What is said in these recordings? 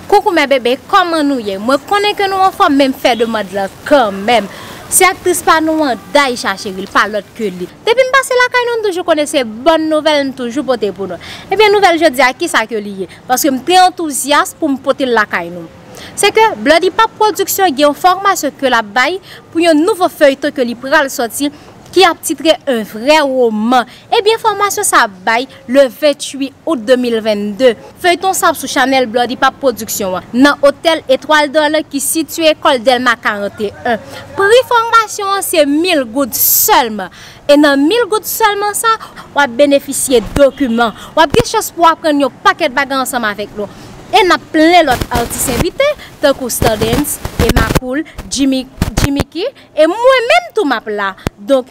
Coucou mes bébés kòman nou ye mwen konnen ke nou anfòm men m fè demand lan kanmèm se aktris pa nou an Daïsha Cheryl pa lòt ke li depi m pase lakay nou m toujou konnen se bòn nouvèl m toujou pote pou nou ebyen nouvèl jodi a kisa ke li ye paske m te antouzyas pou m pote l lakay nou se ke Bloody Pap Production gen yon fòmasyon ke l ap bay pou yon nouvo feuilleton ke li pral sòti ki ap titre un vrai roman. Ebyen fòmasyon sa ap bay le 28 out 2022. Feyton sa ap sou chanèl Bloody Pap Production an nan otèl Etoile D'or lan ki sitye Ecole Delma 41. Pri fòmasyon an se mil goud sèlman. E nan mil goud sèlman sa, wap benefisye dokiman, wap gen chans pou aprann yon pakèt bagay ansanm avèk nou. E nap plen lòt atis envite tankou Stardens, Emma Cool, Jimmy Jimmiky e mwen menm tou map la. Donk.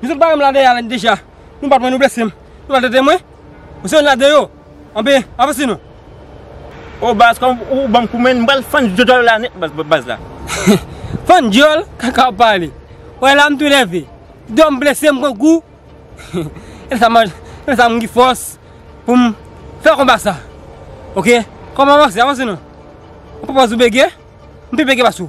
Li sot bare m la dèyè a deja. Nou bat mwen, nou blese m. Nou maltrete mwen. Ou se youn ladan yo. Anben, avanse nou. O baz, kòm ou ban m kou men, m pral fann dyòl ou la nèt baz la. Fann dyòl? Kaka w ap pale. Ou wè la m tou nève. Dò m blese m pran kou. E sa m ap, e sa m gen fòs pou m fè konba sa. Ok. Kòm avanse, avanse nou. Ou pa panse ou bege? M pi bege pase w.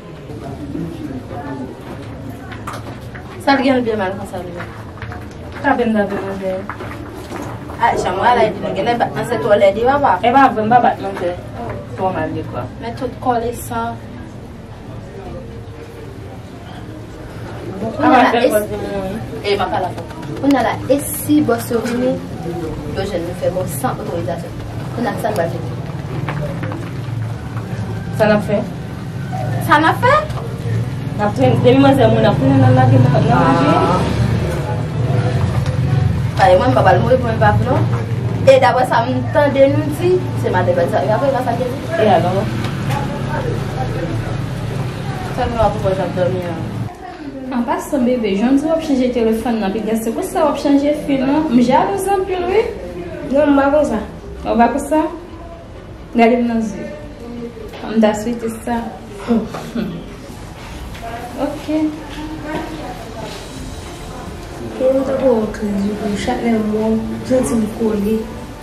Sa t genlh byen mal konsa menm. Sa fem nan vle manje an. Ah jan mwen ala epi nou genlè bat nan se twò lèd wi papa. E pa vre m pa bat non se twò mal dekwa. Men tout kòl e san. Bon kounya la e si Kounya la e si bòs yo vini Yo jwenn nou fè bon san otorizasyon Kounya sa nou pral fè Sa nap fè Sa nap fè Nap fè Demi manzè moun ap tounen nan lage nan manje Pale mwen mpa pale mwen mpa pale non E dapre sa m tande nou di Se maten pral sa E alò Fèm nwa pou mwen kap dòmi an. An pasan bebe jan diw wap chanje telefòn nan piga se konsa wap chanje fi non m jalouz anpil wi non m pa konsa ou pa konsa gadem nan zye m ta swete sa humm ok Keyron tankou yon kriz wi pou m chak lèm wèw m santim kole.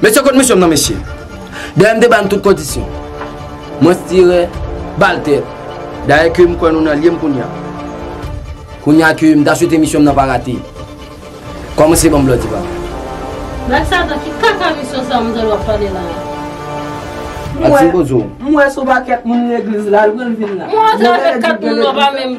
Mesye kot mesye m nan mesye Dèyè m te ban tout kondisyon Mwen stire bal tè Dèyè ke m kwen nou nan lye m kounya Kounya ke m ta swete misyon m nan pa rate Koman se ban m blòdi pa Black Satan ki kaka misyon sa manzèl wap pale la a? Mwen mwen sou baket moun legliz la l vin la. Mwen antre avek 4 moun nou pa menm.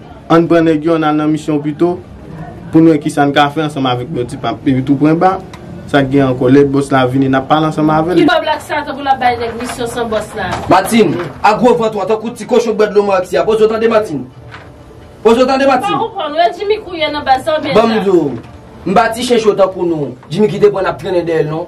Ann pran nèg yo, ann al nan misyon pito, pou n wè kisa n ka fè ansanm avèk Nò Ti Pap. Epi toupwenba, sa k gen ankò? Lè bòs la vini, n ap pale ansanm avè l. Ki bò Blak Satan pou l ap bay nèg misyon san bòs la? Matin, ak gwo vant ou an, tankou ti kochon k bwè dlo Marx ya. Poze w tande Matin. Poze w tande Matin. M pa konprann ou. E Jimmy Kouye nan baz sa oubyen sa? Ban m di w. M pa ti chencho tankou nou. Jimmy kite pran n ap trennen dèyè l non.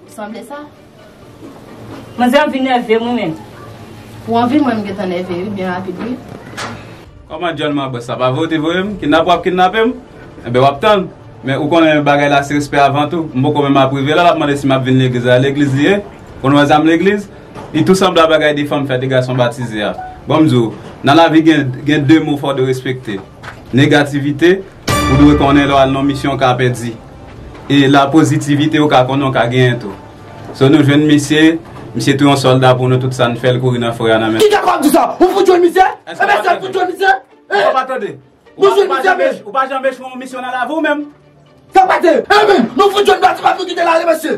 Sanble sa. Manzè an vin nèvem wi menn. Pou anvi mwen m gentan nève wi byen rapid wi. Kòman dyòl ma bòs sa pa vre ou te voyem kidnapè wap kidnapem enben wap tann men ou konnen bagay la se respè avan tou m poko menm ap rive la lap mande si map vin legliz la legliz li ye konn wè zam legliz li tou sanble a bagay de fanm fè de gason batize a bonm di w nan lavi gen de mo fò dwe respekte negativite ou dwe konnen lè wal nan misyon w ka pèdi. E la positivite ou ka konnen ou ka genyen tou. So nou jwenn misye, misye tou yon solda pou nou tout sa nou fè l kouri nan forè a nan men. Ki kapab di sa? Ou fout jwenn misye? Eske w ap tande? Eske w ap tande? Ou pa janm echwe yon misyon nan lavi w menm? Sa pase! Enben, nou fout jwenn Batiman tou ki te la ri mesye.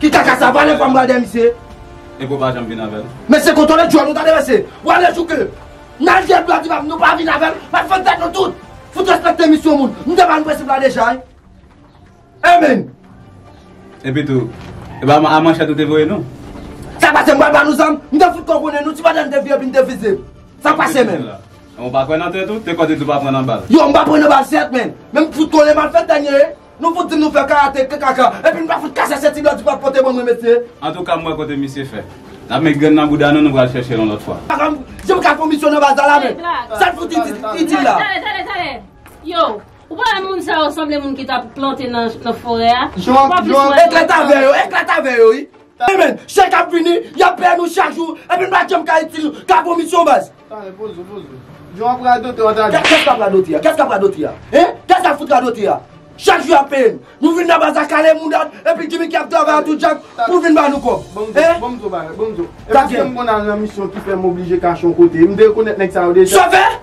Ki kaka sa valè pam bradè misye. Enko pa janm vin avèl. Mesye kontole djòl nou tande mesye. Wale jouke Nan jwèt bloody pam nou pa vin avèl Nap fè tèt nou tout Fout respekte misyon moun Nou te ba nou prensip la deja wi Amen. Epi tou E pa a manchèt ou te voye nou. Sa pase m pral ba nou zam M te fout kò konnen nou ti bradè m te vye epi m te vize Sa pase menm. Ou pa kwè nan tèt ou, te kò te di ou pa pran nan bal. Yo m pa pran nan bal sèt men, men m fout konnen mal fèt dènye. Nou fout dim nou fè karate kkk epi nou pa fout kase senti blòdi pap pote ban mwen mesye. Antouka m wè kote misye fè. Nap met grenn nan bouda nou nou pral chèche l yon lòt fwa. Papa m di m ka fon misyon nan baz la la men sa l fout itil la. Tale tale tale yow ou pa wè moun sa yo sanble moun ki tap plante nan forè a. Eklata vè yo eklata vè yo wi. Amen! Chèk ap vini, y ap peye nou chak jou, epi n pa janm ka itil ka pou misyon baz. Tande, poze w, poze w. Jan w ap radote w ta di. Kès k ap radote a? Kès k ap radote a? Hein? Kès k ap fout radote a? Chak jou y ap peye n. Nou vin nan baz la kale moudad, epi Jimmy ki ap travay a tou djak pou vin ba nou kòb. Bon m di w yon bagay, bon m di w. E paske m konn al nan misyon ki fè m oblije kache yon kote. M derekonèt nèg sa yo deja. Sòvè!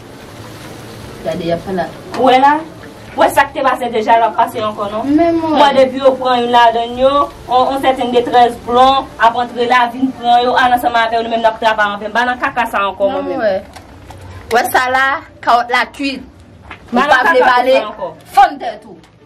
Gade yap pale ak. Ou wè la? Ou wè sak te pase deja lap pase ankò non. Men mwen. Mwen depi yo pran youn ladann yo, on sèten detrès plon ap antre la vin pran yo al ansanm avèw nou menm nap travay anven. M pa nan kaka sa ankò mwen menm. Nan mwen wè. Wè sa la, kawòt la kuit. Ou pa vle pale, fann tèt ou.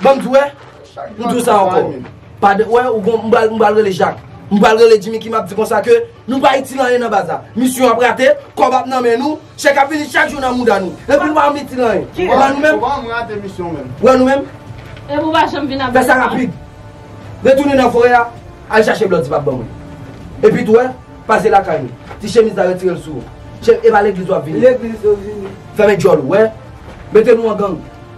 Banm di w wè, m di w sa ankò. Pa de, wè, ou gon, m pral, m pral rele Jak. M pral rele Djimi ki m ap di konsa ke nou pa itil anyen nan baz la. Misyon ap rate, kòb ap nan men nou, chèk ap vini chak jou nan mouda nou. Epi nou pa janm itil anyen. Ou wè nou menm? Ou pa janm rate misyon menm. Ou wè nou menm? Epi ou pa janm vin avèk. Fè sa rapid. Retounen nan forè a, al chache blòdi pa ban mwen. Epi tou wè, pase lakay nou. Ti chemiz la retire l sou ou. Chè, e pa legliz w ap vini. Legliz ou vini. Fèmen djòl ou, wè. Mete nou an gang.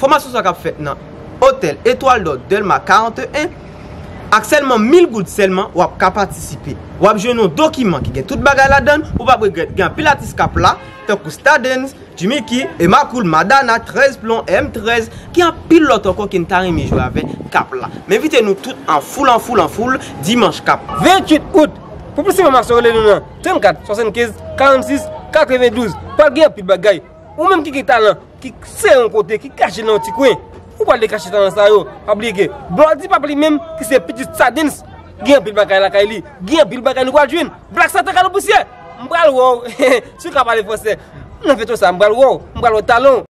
Fòmasyon sa kap fèt nan Otèl Etwal Dò Dèlma 41. Ak sèlman 1000 goud sèlman wap ka patisipe. Wap jwenn yon dokiman ki gen tout bagay ladann, ou pap regrèt. Gen anpil atis kap la, tankou Stardens, Jimmiky, Emma Cool, Madana, 13 plon, M 13, gen anpil lòt ankò ke n ta renmen jwe avè kap la. M envite nou tout an foul an foul an foul dimanch kap. 28 out. Pou plis enfòmasyon rele nou nan 34 75 46 92. Pral gen anpil bagay. Ou menm ki gen talan, ki se yon kote, ki kache nan yon ti kwen, ou pral dekache talan sa yo. Pa bliye ke Blòdi Pap li menm ki se pitit Sadens, gen anpil bagay lakay li, gen anpil bagay nou pral jwenn. Blak Satan Kale Pousyè! M pral wè w si w ka pale franse. Nan feyton sa a m pral wè w, m pral wè talan w.